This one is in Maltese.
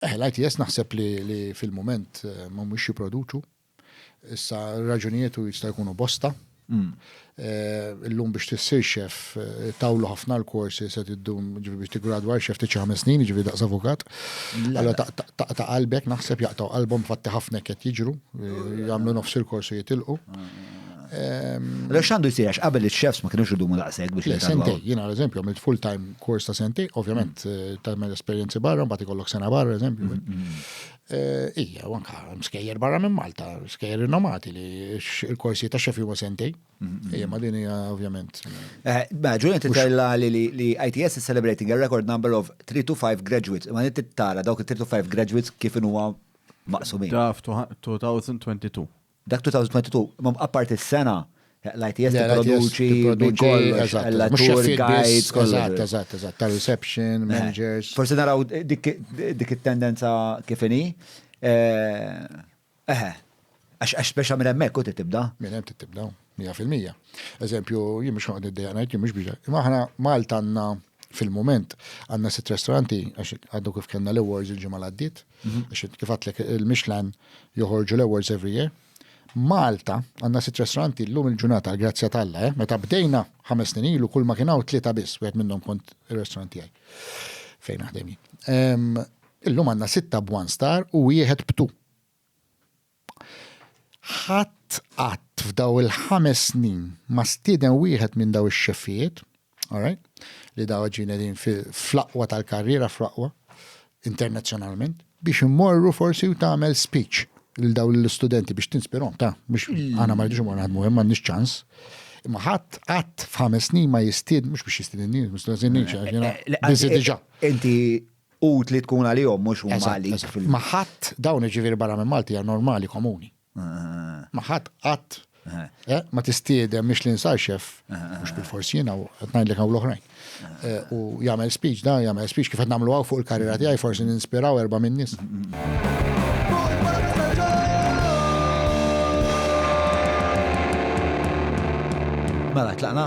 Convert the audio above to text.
Eh, l-ITS naħseb li, li fil-moment eh, ma mhux jipproduċu. Issa raġunietu jista' jkunu bosta. Mm. Eh, illum biex tissir xef, eh, tawlu ħafna l-korsi se tiddum ġivi biex tigradwa xef tiċi ħames snin, ġivi daqs avukat. Alla ta' qalbek naħseb jaqtaw qalbhom fatti ħafna qed jiġru, eh, jagħmlu nofs il-korsu jitilqu. Ah, ah, ah. Għalhekk x'għandu jsir għax qabel iċ-chefs ma kienux idumu daqshekk biex jitgħallmu. Sentej, jiena eżempju għamilt full-time course ta' sentej, ovvjament mm. eh, tagħmel esperjenzi barra, mbagħad ikollok sena barra eżempju. Mm, mm, eh, ija, anka skejjer barra minn Malta, skejjer nomati li il-korsi ta' xefi huma sentej. Ija, ma din hija ovvjament. Eh, ma ġuni titella li ITS is celebrating a record number of 3 to 5 graduates, ma nit tara dawk 3 to 5 graduates kif huwa maqsumin. Draft 2022. Dak 2022, imma apparti s-sena, l-ITS tipproduċi minn kollox, għall-attur, guides, kollox. Eżatt, eżatt, eżatt, ta' reception, managers. Forsi naraw dik it-tendenza kif inhi. Eħe, għax speċa minn hemmhekk u tibda. Minn hemm tibda. Mija fil-mija. Eżempju, jien mhux noqgħod niddejjaq ngħid jien mhux biex. Imma aħna Malta għandna fil-mument għandna sitt ristoranti għax għadu kif kellna l-awards il-ġimgħa l-għaddiet, mhm. għax kif għatlek il-Michelin joħorġu l-awards every year. Malta għandna sitt ristoranti llum il-ġurnata grazzja tal-la, eh? meta bdejna ħames snin ilu kull ma kien hawn tlieta biss, wieħed minnhom kont ir-ristorant tiegħi fejn naħdem Illum għandna sitta b'one star u wieħed b'tu. Ħadd qatt f'daw il-ħames snin ma stieden wieħed minn daw ix-xeffijiet, alright, li daw ġejjin qegħdin fl-aqwa tal-karriera, fl-aqwa, internazzjonalment, biex immorru forsi u tagħmel speech lil daw l-istudenti biex tinspirahom, ta' biex aħna ma rridux immorru naħdmu hemm m'għandniex ċans. Imma ħadd qatt f'ħames snin ma jistied mhux biex jistiedinni, mhux diġà. Inti utli tkun għalihom mhux huma għalik. Ma ħadd dawn iġifieri barra minn Malti hija normali komuni. Ma ħadd qatt eh, ma tistiedem mhix li nsar xef, mhux bil-fors jiena u qed ngħidlek hawn l-oħrajn. Eh, u jagħmel speech da jagħmel speech kif qed nagħmlu hawn fuq il-karriera tiegħi forsi ninspiraw erba' minn nies. Mela tlaqna.